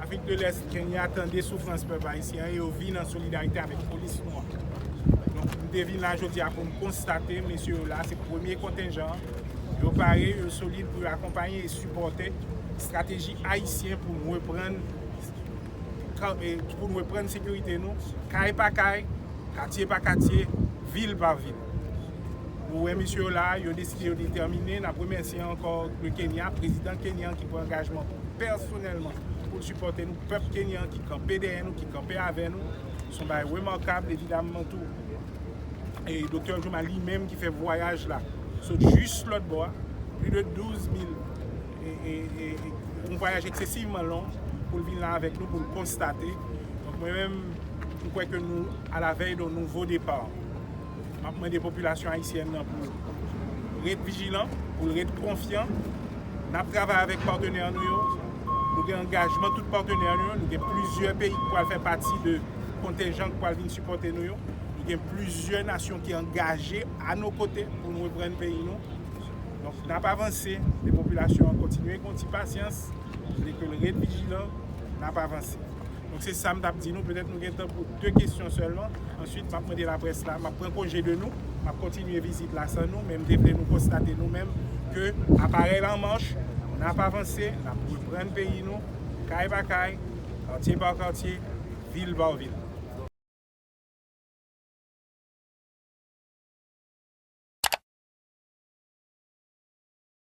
Afrik de lès, Kenya tande soufrans pèp ayisyen an e yo vin an solidarite avèk polis nou an. Donk, m te vin la jodi a pou m konstate mesye yo la, se premye kontenjan an, yo pare, yo solid pou yo akonpaye e sipòte estrateji ayisyen pou nou reprann pou nou reprann sekirite nou, kay pa kay, katye pa katye, vil pa vil. Ou wè mesye yo la, yo deside, yo detèmine. N ap remèsye ankò le Kenya, prezidan Kenya an ki pran angajman pèsonèlman pou l sipòte nou, pèp Kenya an ki kanpe dèyè nou, ki kanpe avè nou. Se yon bagay remakab. Evidamman tou, Doktè Jouma li menm ki fè vwayaj la sot jis lòt bò a, plis de 12 mil, yon vwayaj eksesivman long pou l vin la avèk nou, pou l konstate. Donk mwen menm, m kwè ke nou a la vèy don nouvo depar. Map mande popilasyon ayisyèn nan pou ret vijilan, pou ret konfyan. Nap travay avèk patenè nou yo. Nou gen angajman tout patenè nou yo. Nou gen plizyè peyi ki pral fè pati de kontenjan ki pral vin sipòte nou yo. Nou gen plizyè nasyon ki angaje a no kote pou nou reprann peyi nou. Donk nap avanse, mande popilasyon an kontinye gen yon ti pasyans, mande ke l ret vijilan, nap avanse. Donk se sa m t ap di nou, petèt nou gen tan pou 2 kesyon sèlman, answit m ap mande laprès la, m ap pran konje de nou, m ap kontinye vizit la san nou, men m te vle nou konstate nou menm ke aparèy la an mach, n ap avanse, n ap reprann peyi nou, kay pa kay, katye pa katye, vil pa vil.